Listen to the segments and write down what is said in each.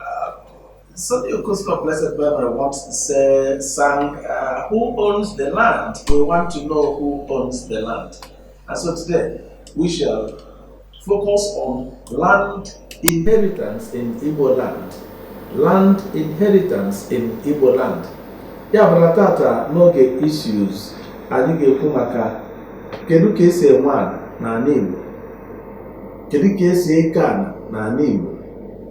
Uh, Sonny Okosun of blessed memory, once say, sang, uh, Who owns the land? We want to know who owns the land. And so today, we shall focus on land inheritance in Igbo land. Land inheritance in Igbo land. Ya bụla tata n'oge issues anyị ga-ekwu maka kedu ka esi enwe ala n'ala Igbo kedu ka esi eke ana n'ala Igbo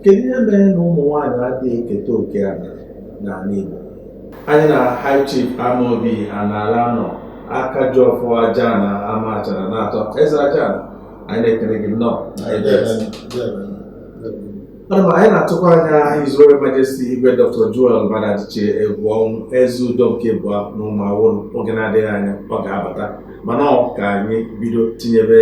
kedu ihe mere na ụmụ nwaanyị adịghị eketa oke ana n'ala Igbo anyị na High Chief Amobi Anala nọ aka ji ọfọ Ajana Amachara na-atọ eze aja anyị na-ekele gị nnọọ ana m anyị na-atụkwa anya His Royal Majesty Igwe Dr. Joel Maduadichie Egwuọnwụ Ezeudo nke abụa na Ụmụawụlụ oge na-adịghị anya ọ ga-abata mana ọ ka anyị bido tinyebe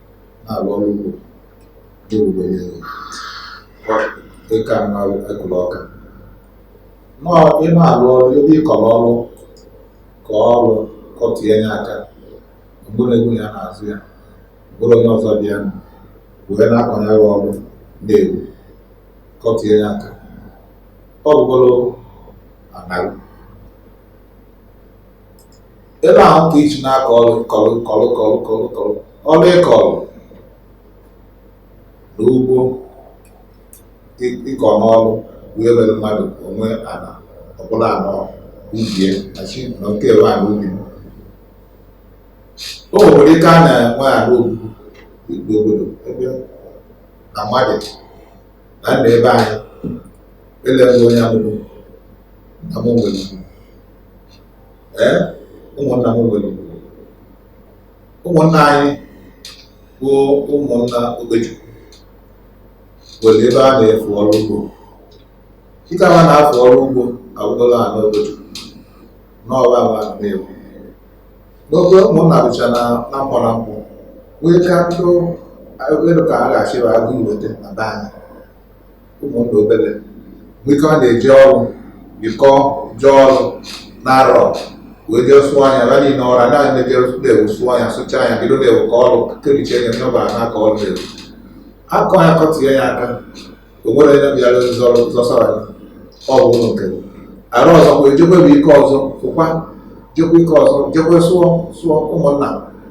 na-arụ ọrụ ugbo n'oge gboo niile dịka mmadụ ekụrụ ọka nọọ ị na-arụ ọrụ ebe ị kọrọ ọrụ ka ọrụ kọtinye ya aka mgbụrụ egwu ya na-azụ ya ọ bụrụ onye ọzọ bịa nụ wee na-akọnye ya ọrụ na-egwu kọtinye ya aka ọ bụrụ ana gị ebe ahụ ka iji na-akọ ọrụ kọrụ kọrụ kọrụ kọrụ kọrụ ọrụ ịkọrụ na ugbo ịkọ n'ọrụ bụ ebe mmadụ onwe ana ọ bụrụ ana ubi e achị na nke ebe ana ubi m o nwere ike a na-enwe ala obibi igbo obodo ebe na mmadụ na nna ebe anyị ele onye amụrụ na mụ nwere ee ụmụnna m nwere ụmụnna anyị bụ ụmụnna Okechukwu nwere ebe a na-afụ ọrụ ugbo kịta ha na-afụ ọrụ ugbo agwụla ha n'obodo n'ọba ma na-ewu n'oge ụmụnna bụcha na na mkpọ na mkpọ wee ka ntụ elu ka a ga-achịba agụ iweta na be anyị ụmụnna obere mgbe ike ọ na-eji ọrụ bikọ jee ọrụ na arọ wee jee sụọ anya ra niile ọra na na-eje na-ewu sụọ anya sụcha anya bido na-ewu ka ọrụ kebiche anya n'ọba na ka ọrụ na-ewu akọ ya kọtinye ya aka o nwere onye bịara zọrọ zọsara ya ọ bụ ụlọ nke arụ ọzọ wee jekwe bụ ike ọzọ fụkwa jekwe ike ọzọ jekwe sụọ sụọ ụmụnna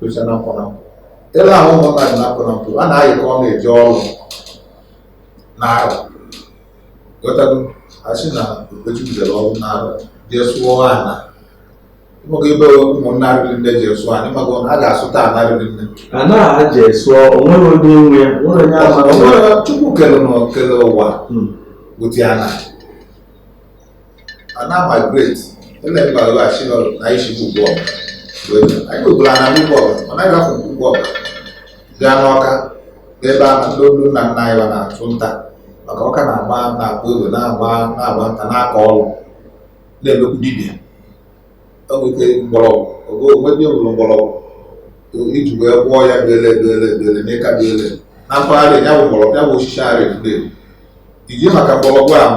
docha na mpụ na mpụ ebe ahụ ụmụnna dị na mpụ na mpụ a na-ayịkọ ọ na-eji ọrụ na arụ ghọtago asị na okpechi bidoro ọrụ na arụ jee sụọ ana ịmago ebe ụmụnna riri nne jee sụọ ana ịmago a ga-asụta ana riri nne ana a jee sụọ onwere onye nwe ya nwere onye ama Ọ nwere Chukwu kere na kere ụwa Hmm. wụti ana a na-amigrate eme mba laghachi n'ọrụ na isi bụ Ugwuọba anyị nwekwara ana Ugwuọba ọ naghị afọ Ugwuọba gaa n'Ọka n'ebe a ndị olu nna nna anyị na-achụ nta maka Ọka na-agba na-agba egbe na-agba na-agba nta na-akọ ọrụ na-emekwu dibịa o nwere ike mgbọrọgwụ onwedị ewuru mgbọrọgwụ iji wee gwọọ ya bele ebele ebele n'ịka dị ele na mpaghara ya bụ mgbọrọgwụ ya bụ osisi arị ndị iji maka mgbọrọgwụ ahụ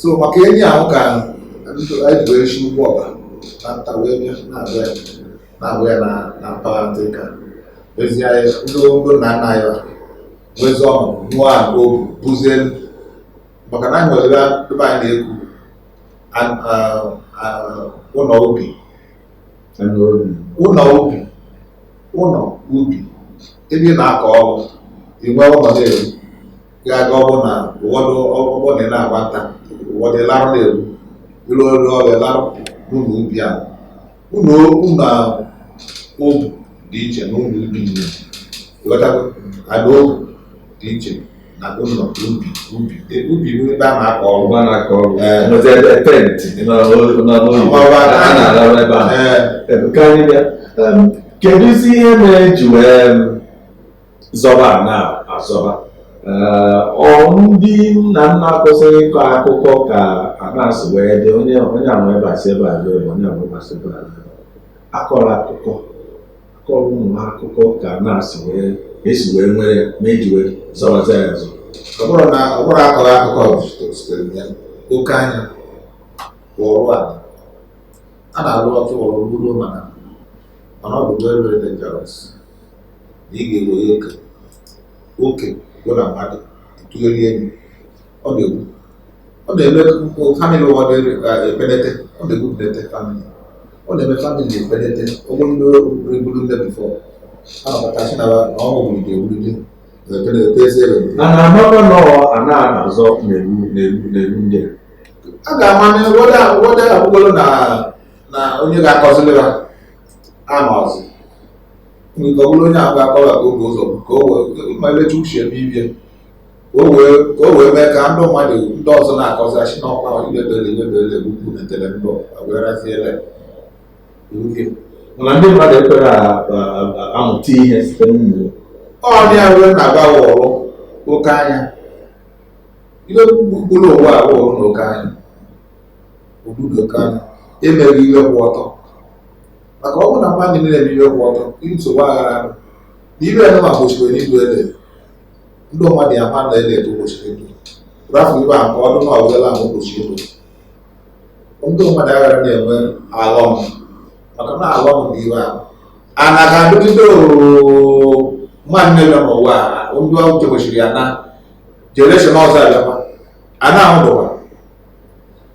so maka enyi ahụ ka anyị wee shi Ugwuọba na nta wee bịa na-abịa na-abụ ya na mpaghara ndị ka ezi anyị ndị ogo nna nna anyị nwezi ụnọ ụnọ agụ bụzie maka na anyị nwere ebe anyị na-ekwu ụnọ ubi ụnọ ubi ụnọ ubi ebe ị na-akọ ọrụ inwe ụnọ na-eru ga-aga ọ bụ na ụfọdụ ọ bụ ndị na-agba nta ụfọdụ larụ n'iru iru ọrụ ọrụ a larụ n'ụnọ ubi a ụnọ obu na obu dị iche na ụnọ ubi nne ghọtago ada obu dị iche na ụnọ ubi ubi E, ubi bụ ebe a na-akọ ọrụ ọgba na-akọ ọrụ Ee. nọzi ebe tent nọ n'oyibo Ọgba a na- na-arụ ebe a ee Em, ka anyị bịa Em, kedụzi ihe mere eji wee em, zọba ana azọba eh, ọ ndị nna nna kwesịrị ịkọ akụkọ ka ana si wee dị onye onye ama ebe asị ebe a ebe onye ama ebe asị ebe a akọrọ akụkọ akọrọ ụmụ akụkọ ka ana si wee esi wee nwere ma eji wee zọbazi ya azọ ọ bụrụ na ọ bụrụ akọrọ akụkọ sitere ya oke anya ọrụ a a na-arụ ọtụ ọrụ ruo mana mana ọ bụ very very dangerous na ị ga-ewere oke oke bụ na mmadụ tụgheri elu ọ na-egbu ọ na-eme family ụfọdụ na-epenete ọ na-egbu penete family ọ na-eme family epenete ụgwọ ndị eburu ndị before a na-akpatachi na ọnwụ wulite ewulite a na-amakwa na a na-azọ n'enu n'enu n'enu ndị a ga-ama na ụfọdụ ụfọdụ agwụgolo na na onye ga-akọziri ha amazi nke ọ bụrụ onye ahụ ga-akọwa ka oge ụzọ ka o wee ma elecha uche ebe ibie ka o wee ka o wee mee ka ndị mmadụ ndị ọzọ na-akọzi achị na ọkwa idebere idebere egbukwu na tele ndụ agweraziele uke mana ndị mmadụ ekwere a- a- a- amụta ihe site n'ụmụ ọ dị ya wee na-agba wọrụ oke anya ihe gburugburu ụwa a wụrụ n'oke anya obodo oke anya emeghị ihe kwụ ọtọ maka ọ bụrụ na mmadụ niile eme ihe kwụ ọtọ nsogbu aghara arụ na ibe ya ma gbochikwere ịdụ ede ndị mmadụ ya ma na ede eto gbochiri ịdụ rafu ibe a ka ọdụ na ọbụla ahụ gbochi ịdụ ndị mmadụ aghara na-enwe alọm maka na alọm bụ ive ahụ ana ga-adụgide mmadụ na-eme n'ụwa ndị ọgwụ gbochiri ya na jenereshọn ọzọ abịakwa ana ahụ dụkwa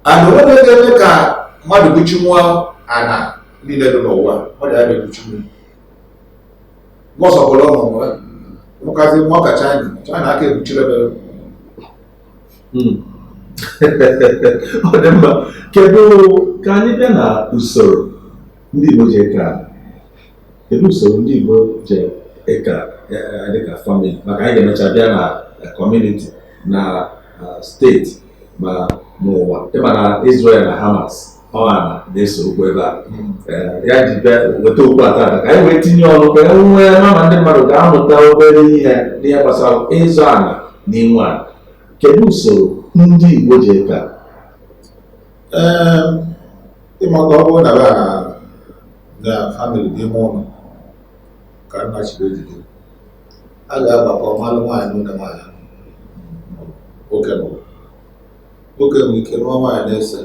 ana onwe ga-eme ka mmadụ buchinwụọ ana niile dị n'ụwa mmadụ ada ebuchinwu gbọsọpụrụ ọmụmụ ya mụkazi nwa ka china china aka ebuchiri ebere hmm. ọ dị mma kedu ka anyị bịa na usoro ndị Igbo ji eke ala kedu usoro ndị Igbo ji eke ala dịka famili maka anyị ga-emecha bịa na kọmuniti na steeti ma n'ụwa ị ma na Israel na Hamas ọ ana na-ese okwu ebe a hmm. ya ji bịa weta okwu a tata ka anyị wee tinye ọnụ ka e nwee nama ndị mmadụ ga-amụta obere ihe n'ihe gbasara ịzụ ala na inwe ala kedu usoro ndị Igbo ji eke a ị ma ka ọ bụrụ na be na na famili n'ime ụlọ ka nna chiri ejide a ga-agbakọ mmanụ nwaanyị nwoke nwaanyị nwoke bụ nwoke nwere ike nụọ nwaanyị na ise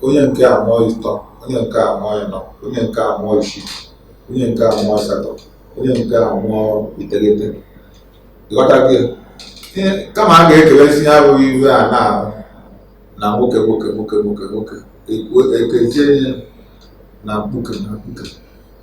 onye nke a mụọ ịtọ onye nke a mụọ ịnọ onye nke a mụọ isii onye nke a mụọ asatọ onye nke a mụọ iteghete ị ghọtago kama a ga-ekewezi ya abụghị ive ana ahụ na nwoke nwoke nwoke nwoke nwoke e kezie ya na mkpuke na mkpuke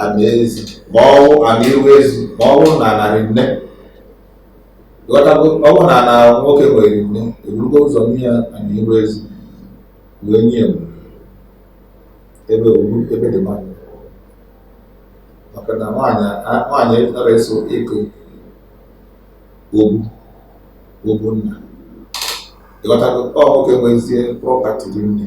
ana ezi ma ọ bụ ana iru ezi ma ọ bụrụ na ana rị nne ị ghọtago ọ bụrụ na ana nwoke nwe rị nne eburugo ụzọ nye ya ana iru ezi wee nye ya mgbe ebe obu ebe dị mma maka na nwaanyị a- nwaanyị anara eso eke obu obu nna ị ghọtago ọ nwoke nwezie prọpati rị nne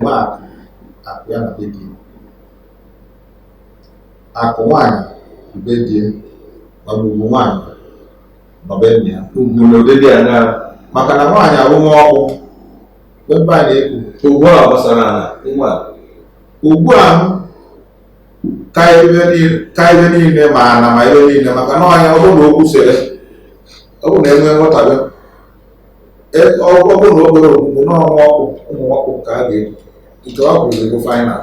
mgbe akụ akụ ya na be di akụ nwaanyị bụ be di mana ugwu nwaanyị nọ be nna ya ugwu na ụdị dị anya maka na nwaanyị a bụ nwa ọkpụ ebe a na-ekwu ugbu a gbasara ala nwa ugbu a ka ibe niile ka ibe niile ma ana ma ibe niile maka na nwaanyị ọ bụrụ na okwu sere ọ bụrụ na enwee nghọtabe e, ọ bụrụ na obere okwukwu na ọ nwa ọkpụ ụmụ ọkpụ ka a ga-eji nke ha kwuru bụ final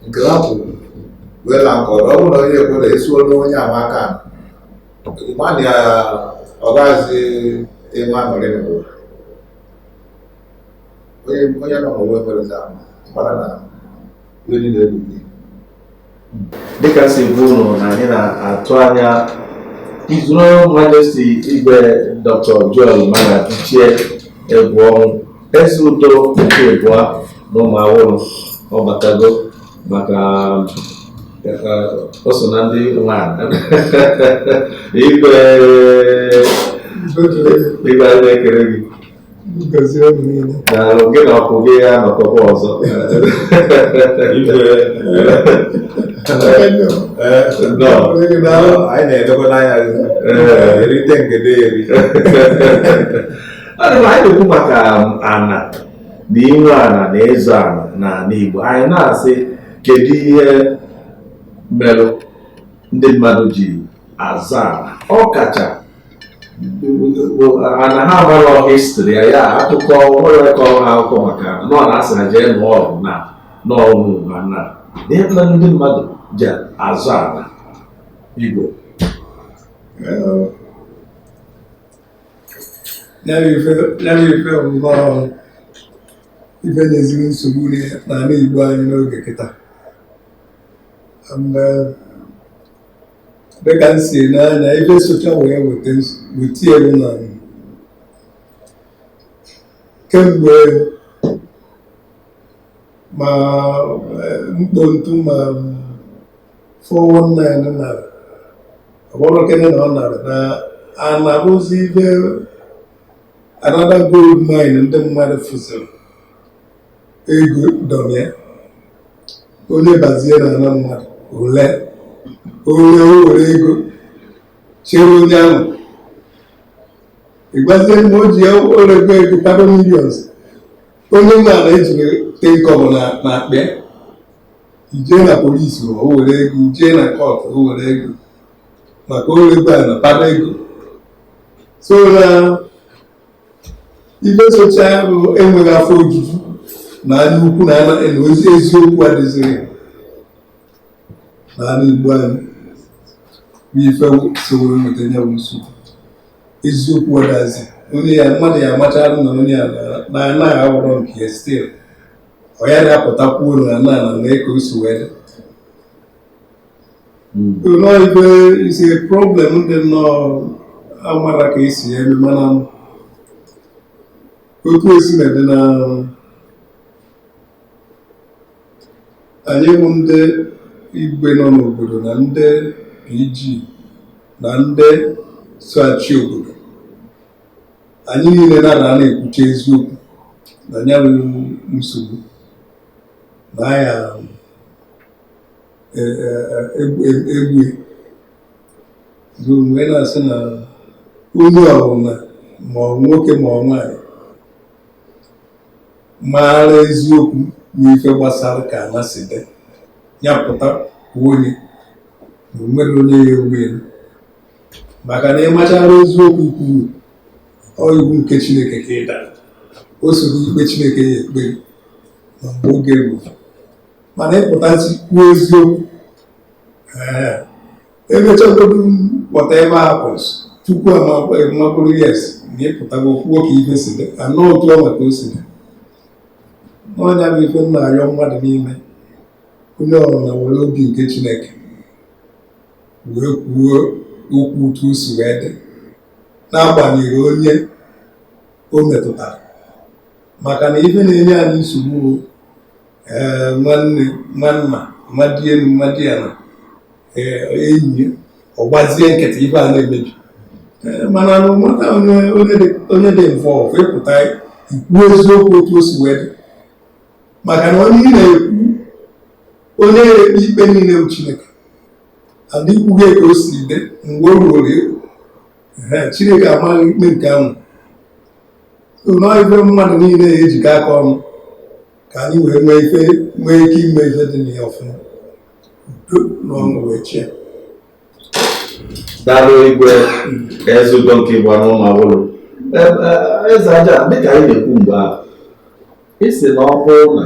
nke ha kwuru wee na nke ọdụ ọ bụrụ na onye ekwe na esuo n'onye ama aka mmadụ ya ọ gaghịzi enwe aṅụrị n'ụwa onye onye nọ n'ụwa emerezi ahụ mara na mmiri na-egbu gị dịka o si bụrụ na onye anyị na-atụ anya His Royal Majesty igwe dr Joel Maduadichie Egwuọnwụ Eze Udo nke ịbụa na Ụmụawụlụ ọ batago maka o so na ndị nwe anyị igwe igwe anyị na-ekele gị daalụ gị na ọkụ gị ya nọkọkwa ọzọ anyị na-edekwa n'anya erite ngede eri ana m anyị na-ekwu maka ana na inwe ana na ịzụ ana n'ana Igbo anyị na-asị kedu ihe merụ ndị mmadụ ji azụ ana ọkacha ana ha amarọ history ya ya akụkọ nwere kọrọ ha akụkọ maka nọ na asị ha jee nụọ ọgụ na n'ọnwụ ma na ihe na ndị mmadụ ji azụ ana igbo n'ebe ife nnọọ ife na-ezigbo nsogbu n'ala igbo anyị n'oge kịta dịka m si ene anya ife socha wee weta elu na kemgbe ma eh, mkpontu ma 419 na ọgbọrọkene na ọ nara na ana abụrụzi ife another gold mine ndị mmadụ fụziri ego dọrọ onye bazie na ana mmadụ ole onye o were ego chere onye ahụ ịgbazie mgbe o ji ya o rego ego kpado millions onye nwe ana ejiri ten kobo n'akpa ị jee na police o were ego ị jee na court o were ego maka o rego ana kpado ego so na ife socha ya bụ enweghị afọ ojuju na anya ukwu na anya na ozi eziokwu adịzịghị na ala igbo anyị bụ ife sowere nweta ya bụ nsogbu eziokwu adazi onye ya mmadụ ya amachara na onye ya na ana ahụ awụrọ nke ya still ọ ya na-apụta kwuo na ana na nwee ka o si wee dị nnọọ ebe isi problem dị nnọọ amara ka esi ya eme mana otu o sina dị na anyị bụ ndị igwe nọ n'obodo na ndị PG na ndị so achị obodo anyị niile na ada na-ekwucha eziokwu na ya bụ nsogbu na ya egbu bụ mgbe na-asị na onye ọbụla ma ọ nwoke ma ọ nwaanyị maara eziokwu n'ife gbasara ka ana si dị ya pụta onye na o nwerọ onye ya egbu elu maka na ị machara eziokwu kwuru ọ iwu nke Chineke ka ị dara o soro ikpe Chineke ya ekpe ma mgbe oge ruru mana ị pụtazi kwuo eziokwu emechagodu whatever occurs tupu a makwara yes na ị pụtago kwuo ka ife si dị na ọ otu ọnwa ka o si dị na ọ ya bụ ife m na-arịọ mmadụ niile onye ọbụna were obi nke chineke wee kwuo okwu otu o si wee dị n'agbanyeghị onye o metụtara maka na ife na-enye anyị nsogbu ee nwanne nwanna mmadụ elu mmadụ ya na enyi ọ gbazie nkịtị ife a na-emebi ma no matter onye dị involve ị pụta ị kwuo eziokwu otu o si wee dị maka na onye ị na-ekwu onye na-ekpe ikpe niile bụ Chineke and ị kwughị ka o si dị mgbe o ruoro Chineke ama gị ikpe nke ahụ na ọ ife mmadụ niile ejikọ aka ọnụ ka anyị wee nwee ike ime ife dị na ya ọfụma udo na ọṅụ wee chie daalụ igwe eze udo nke ịbụa n'Ụmụawụlụ eze aja dịka anyị na-ekwu mgbe ahụ ị sị na ọ bụrụ na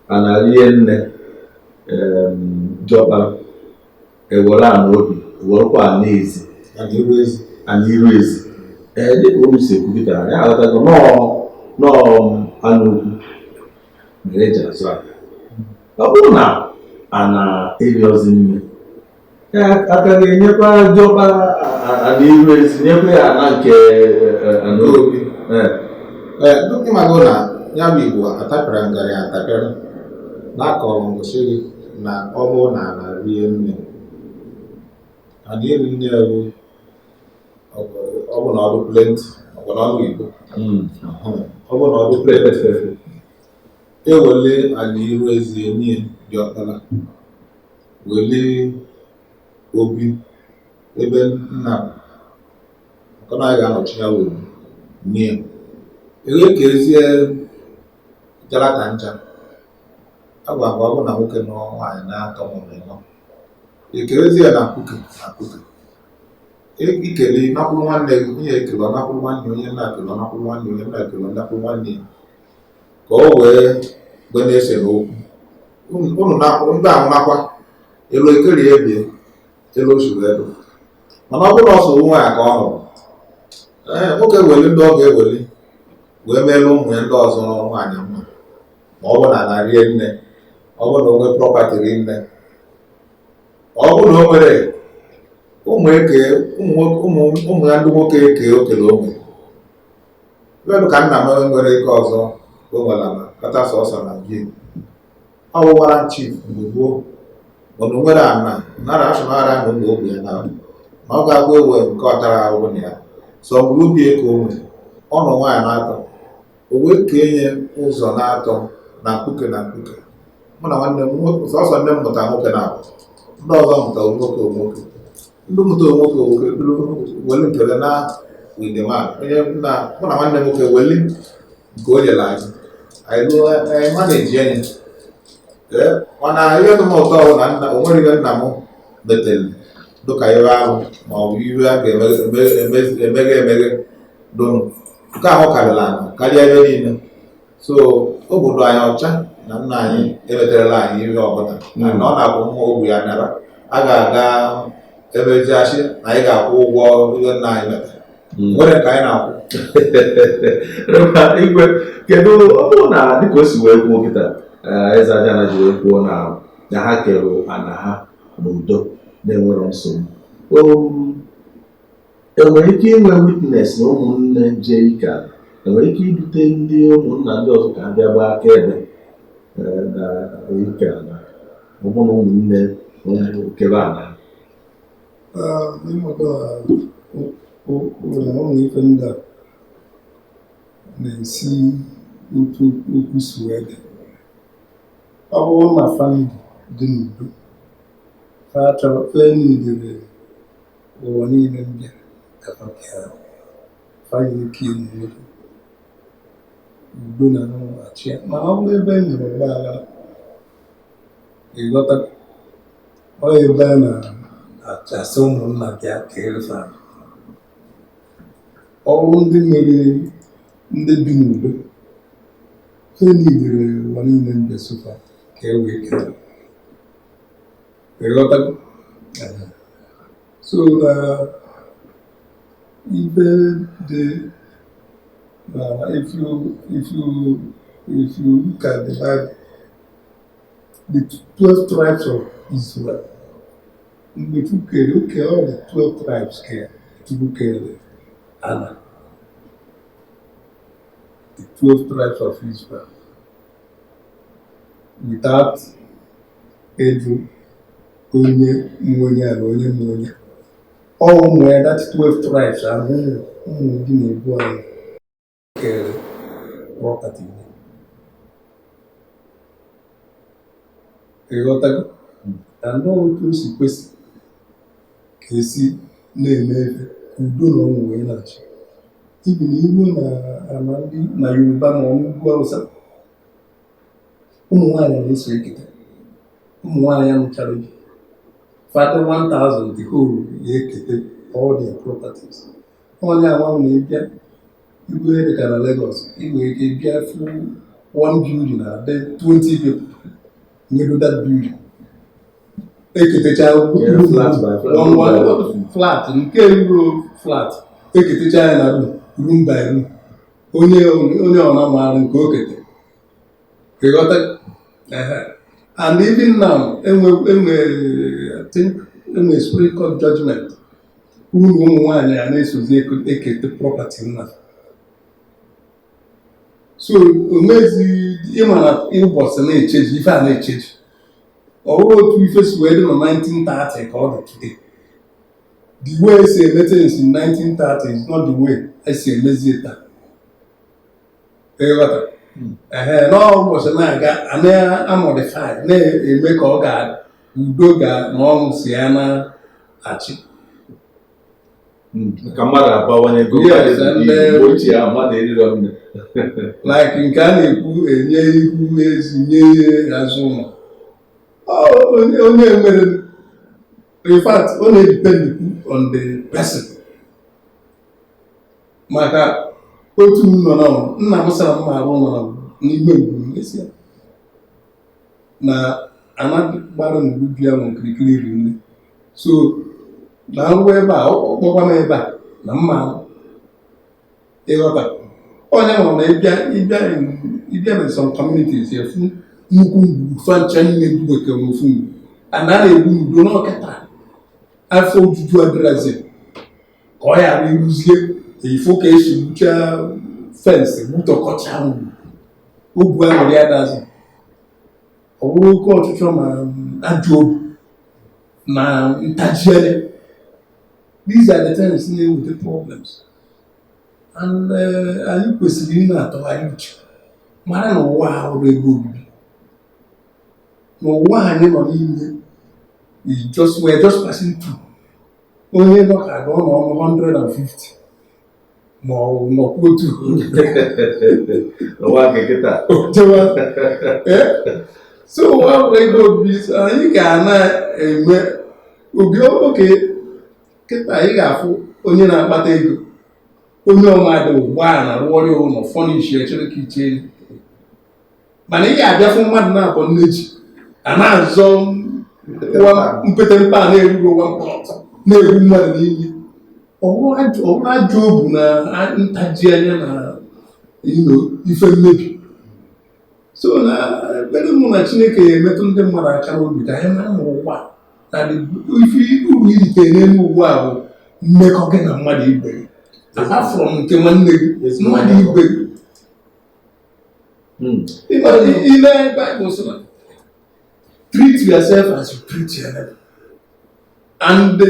a na-arie nne em, diọkpara ewere ana obi werekwa ana ezi ana iru ezi ee dịka olu si ekwupụtara ya aghọtago nọọ anụ okwu mere eji azụ aka ọ bụrụ na ana erizie nne a ka ga-enyekwa diọkpa ana iru ezi nyekwa ya ana nke ana obi ndị magụ na ya bụ igbo atapịara ngarị atapịara na-akọrọ ngosiri na ọ bụrụ na ala rie nne ana rie nne ewu ọ bụ na ọ dụ plenti ọ bụ na ọnụ igbo hmm. ọ bụ na ọ dụ plenti ewele ala iru ezi enye diọkpara wele obi ebe nna maka na ọ ga-anọchi ya wee nye ya e wee kezie jara ka ncha ọ bụ agwa ọ bụ na nwoke nụọ nwaanyị na-atọ maọbụ ịnọ e kerezie ya na mkpuke na mkpuke i kele nakwuru nwanne gị onye ekele ọ nakwuru nwanne onye nna ekele ọ nakwuru nwanne onye nna ekele ọ nakwuru nwanne ya ka o wee gbe na-ese n'okwu ụnụ na-akwụ ndị ahụ nakwa elu ekele ya ebie elu osuru elu mana ọ bụrụ sọ ofu nwaanyị ka ọ nụrụ ee nwoke weli ndị ọ ga-eweli wee meere ụmụ ya ndị ọzọ nwaanyị mma ma ọ bụ na ana rie nne ọ bụ na o nwee prọpati rie nne ọ bụ na o nwere ụmụ eke ụmụ ya ndị nwoke eke okele o nwe ebe ka nna m nwere nke ọzọ o nwere ana kata sọsọ na bie ọ wụwara chief mgbe gboo mana o nwere ana nara asụnara na ụmụ ogbe ya na ọ ga-agwa ewe nke ọ tara ahụhụ na ya sọ mgbe ubi eke o nwere ọnụ nwaanyị na-atọ o wee kee nye ụzọ na-atọ na mkpuke na mkpuke mụ na nwanne m sọsọ nne m mụta nwoke naabọ ndị ọzọ mụta nwoke nwoke ndị mụta nwoke nwoke bụrụ weli nkele na widema onye na mụ na nwanne m nwoke weli nke o nyere anyị anyị lụọ anyị ma na-eji enyi ee mana ihe dị m ụtọ bụ na nna o nwere ihe nna m metere dịka ihe ahụ ma ọ bụ ihe a ga-emeghe emeghe donu nke ahụ karịrị anyị karịa ebe niile so obi dụ anyị ọcha na nna anyị emeterela anyị ihe ọbụla na ọ na-akwụ nwa ogwu ya nara a ga-aga ebe eji asị na anyị ga-akwụ ụgwọ ihe nna anyị metara Hmm. nwere nke anyị na-akwụ igwe kedu ọ bụrụ na dịka o si wee kwuo kịta eh, eze ajana ji wee kwuo na na ha kere ana ha n'udo na-enwerọ nsogbu um, Enwere ike inwe witness na ụmụnne jee ike ala enwere ike idute ndị ụmụnna ndị ọzọ ka ha bịa gbaa akaebe eh, na ike ala ọ bụ na ụmụnne kebe ala Ah, ịmụta ụlọ ọrụ ife ndị a na-esi otu okwu si wee dị ọ bụrụ na famili dị n'udo fa chọrọ ife niine nwanne nne m bịara ka ha bịa ha nwere ike inwe udo na-achị ma ọ bụrụ ebe e nwere ọgba aghara ịghọta ọ ebe a na-achọzi ụmụnna bịa keere fa ọ bụrụ ndị nwere ndị bi n'udo ha niile nwanne nne m bịa so fa ka e wee kere so na even the if you if you if you look at the Bible the twelve tribes of Israel mgbe Chukwu kere oke ọ the twelve tribes ka Chukwu kere ana the twelve tribes of Israel without ịjụ onye nwe onye a na onye nwe onye ọ ụmụ ya that 12 tribes ahụ ụmụ ụmụ gị na-ebu anyị kere property gị. ịghọtago na ndị otu o si kwesị ka esi na-eme ebe ka udo na ọṅụ wee na-achị even na i ruo na ala ndị Yoruba ma ọ n'ugwu awụsa ụmụ nwaanyị na-eso eketa ụmụ nwaanyị ya mụchara gị fa dị 1000 the whole ya eketa all their properties ọ ya nwa na ị bịa ebe dị ka na Lagos ị nwere ike bịa fụ one building na a dị 20 people nwelu that building eketecha flat nke eruro flat eketecha ya na room by room onye onye ọbụna maara nke o kete ịghọta and even now enwe enwe enwe supreme court judgment na ụmụ nwaanyị a na-esozi ekete property nna so o nwezi ị ma na ụbọchị na-echange ife a na-echange ọ bụrọ otu ife si wee dị na 1930 ka ọ dị today the way esi eme things in 1930 is not the way esi emezi ya taa ịghọta hmm. ehe n'ụbọchị na-aga a na-amodify na-eme ka ọ ga udo ga na ọṅụ si ya na-achị ka mmadụ abawanye oge ochie ahụ mmadụ erirọ nne like nke a na-ekwu enye ihu ezi nye azụ ụlọ onye nwere in fact ọ na-edepend on the person maka otu m nọ na nna m sara mma arụ ụlọ n'ime ngwuru n'isi na a na-agbara ngwuru bịa m okirikiri iri nne so na ngwa ebe a ọkpọkwa m ebe a na mma ịghọta onye nwere na ịbịa ịbịa ịbịa na some communities ịfụ nnukwu ngwuru fa ncha niile duweke n'ofu ngwuru a na na-ebi n'udo na kịta afọ ojuju adịrazi ka ọ ghara ịrụzie ifo ka esi gbuchaa fensị gbutọkọcha ọgụ ahụ ya dazi ọ bụrụ oke ọchịchọ ma um, ajọ obi na ntaji anya these are the things na-eweta problems and uh, anyị kwesịrị ị na-atụgharị uche mara na ụwa a abụrọ ebe obibi na ụwa anyị nọ n'ime we just we're just passing through onye nọ ka ga ọ nọ ọnụ 150 ma ọ bụ nọkwa otu n'ụwa nke kịta jewa Eh? so ụwa abụrọ ebe obibi so anyị ga na-enwe obi ọma okay kịta anyị ga-afụ onye na-akpata ego o nye mmadụ ụgbọala rụọrọ ya ụlọ furnish echere ka iche mana ị ga-abịafụ mmadụ naabọ nne ji a na-azọ mpete mpe ana erurọ nwa mkpọrọtụ na-egbu mmadụ n'ime ọ wụrụ ajọ obu na ntaji anya na ife mmebi so na ekpere m bụ na chineke ya emetụ ndị mmadụ aka n'obi ka anyị mara n'ụwa na ife uru i rite n'elu ụwa a bụ mmekọ gị na mmadụ ibe gị apart from nke nwanne gị mmadụ ibe gị Hmm. Ile Bible sị na treat yourself as you treat your neighbor. And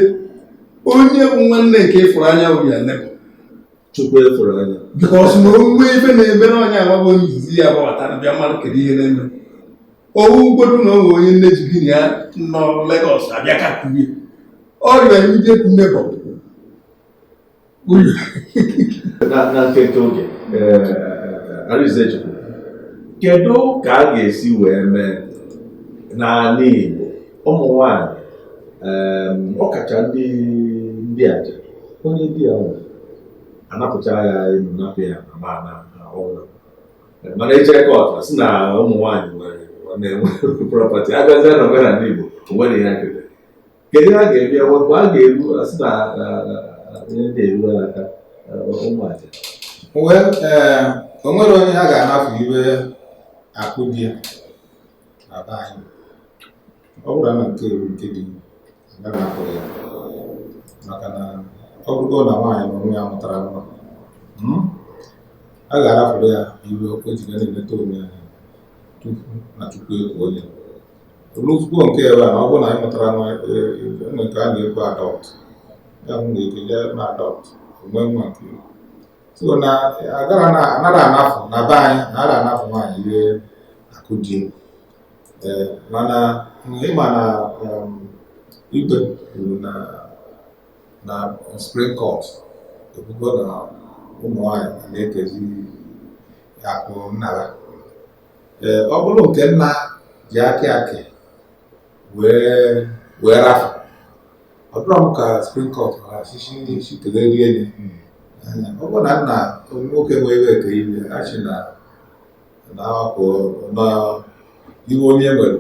onye bụ nwanne nke ị fụrụ anya bụ your neighbor. Chukwu ị fụrụ anya. Because na o nwee ife na-eme na ọ neighbor bụ onye izizi ya gbabatara bịa mmadụ kedu ihe na-eme. Ọ wụgodu na o nwee onye nne ji gị na ya nọ Lagos abịa ka kurie. Ọ your immediate neighbor. na nkeke oge Arinzechukwu kedu ka a ga-esi wee mee n'ala Igbo ụmụ nwanyị ọkacha ndị ndị aja onye di ya nwụrụ a napụcha ya elu napụ ya ana ma na ọnwụ mana e jere court sị na ụmụ nwaanyị nwere na-enwe property a bịazie na omenala Igbo o nwere ihe nketa kedu ha ga-eme ya mgbe a ga-eru asị na onye ndị eruwe n'aka ụmụaja wee o nwere onye ha ga-anapụ ihe akụ di ya na be anyị ọ bụrụ na nke eru nke dị agaghị akụ ya maka na ọ bụrụgo na nwaanyị na onwe ya mụtara nwa hmm, a ga-arapụrụ ya ihe o ji ga na-eneta onwe ya tupu na tupu ekwu onye Olukwuo nke ebe a ọ bụrụ na anyị mụtara nwa e, e, ụmụ nke a na-ekwu adopt ya bụ nwere ike je na adopt nwee nwa nke ya. so na agara na anara anafụ na be anyị anara anafụ nwaanyị ihe akụ di ya. Ee, mana ịma na um, ikpe kwuru na na Supreme Court ekwugo na ụmụ nwaanyị na-ekezi akụ nna ha ee ọ bụrụ nke nna ji akị akị wee wee rafụ ọ dịrọ m ka Supreme Court mara asịsị ndị isi kelee rie enyi ọ bụrụ na nna nwoke nwee ihe kee ihe a sị na na akwụ na ihe onye nwere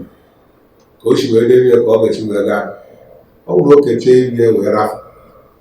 ka o si wee debe ihe ka ọ ga-esi wee gaa ọ bụrụ o kechaa ihe wee rafụ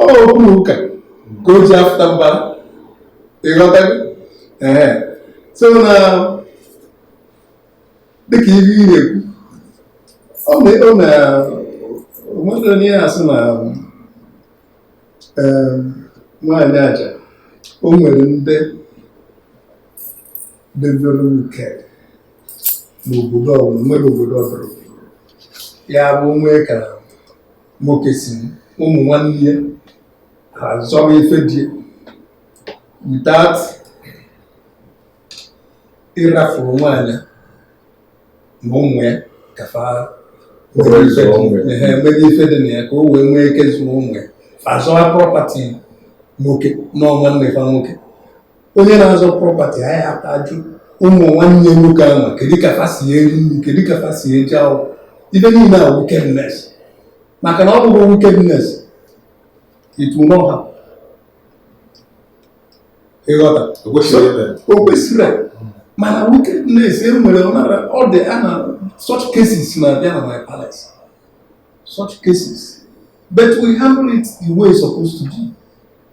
okwu na ụka ka o ji afụta mbara ịghọta ee so na dịka ihe ị na-ekwu ọ na o nwere onye na-asị na nwaanyị aja o nwere ndị debere nke n'obodo ọbụla nwere obodo ọbụla ya bụ nwee ka nwoke si ụmụ nwanne ya ha zọrọ ife di ya without ịrafuru nwaanyị na ụmụ ya ka fa were zụọ ụmụ ya. Ehe, mebe ife dị na ya ka o wee nwee ike zụọ ụmụ ya fa zọwa property nwoke na nwanne fa nwoke onye na-azọ property anyị aka ajụ ụmụ nwanne nwoke ahụ kedu ka fa si eri nri kedu ka fa si eje akwụkwọ ife niile a wickedness maka na ọ bụrọ wickedness it will not happen ịghọta O kwesịrọ ime. o kwesịrọ. mana wickedness e nwere ọ nara- ọ dị a na such cases na-abịa na my palace such cases but we handle it the way it's supposed to be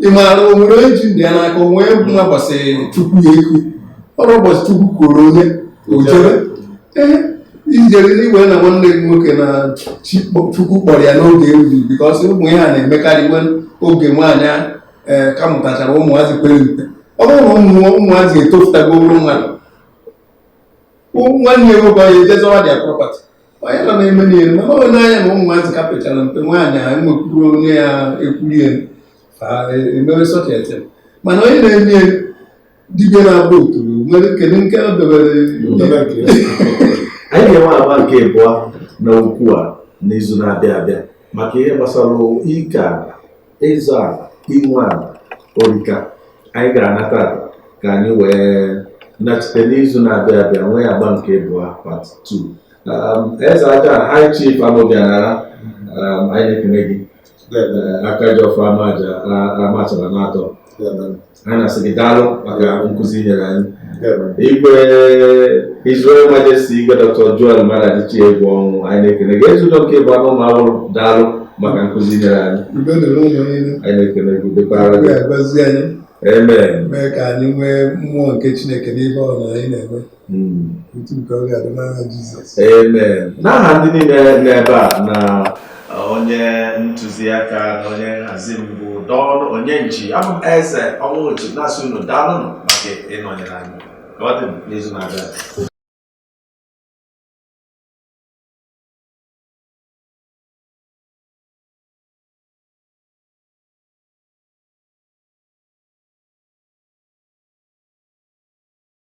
ị maara o nwerọ onye ji ndụ ya n'aka o nwee ụbọchị chukwu ya ekwu o ruo ụbọchị chukwu kwuru onye o jebe ee ijere n'iwe na nwanne gị nwoke na chi kpọ- chukwu kpọrọ ya n'oge erughị because ụmụ ihe a na-emekarị nwe oge nwaanyị a ee ka mụtachara ụmụazị pere mpe ọ bụrụ na ụmụ ụmụazị etofutago ruo mmadụ nwanne ya nwoke ọ ya eje zọwa dị property onye nọ na-eme n'ihe ma ọ na anya na ụmụazị ka pechara mpe nwaanyị a nwekwuru onye ya ekwurie emewe such a thing mana onye na-eme ya dibịa na-agba otoro nwere kedu nke o dobere anyị ga-enwe agba nke abụọ n'okwu a n'izu na-abịa abịa maka ihe gbasara ike ala ịzọ ala inwe ala ọ rị ka anyị ga-anata ala ka anyị wee nachite n'izu na-abịa abịa nwee agba nke ịbụọ part 2 Um, Ezeaja High Chief Amobi Anara um, anyị na-ekene gị Eh, aka ji ọfọ ama aja a- Amachara n'atọ anyị na-asị gị daalụ maka nkụzi i nyere anyị igwe His Royal Majesty igwe Dr. Joel Maduadichie Egwuọnwụ anyị na-ekele gị Ezeudo nke abụọ n'Ụmụawụlụ daalụ maka nkụzi i nyere anyị anyị na-ekele gị dịkwara gị amen mee ka anyị nwee mmụọ nke Chineke n'ihe ọbụna anyị na-eme n'aha ndị niile n'ebe a na onye ntụziaka na onye nhazi m bụ Don Onyenji abụ m Eze Onwuji na-asị unu daalụnụ maka ịnọnyere anyị ka ọ dị n'izu na-abịa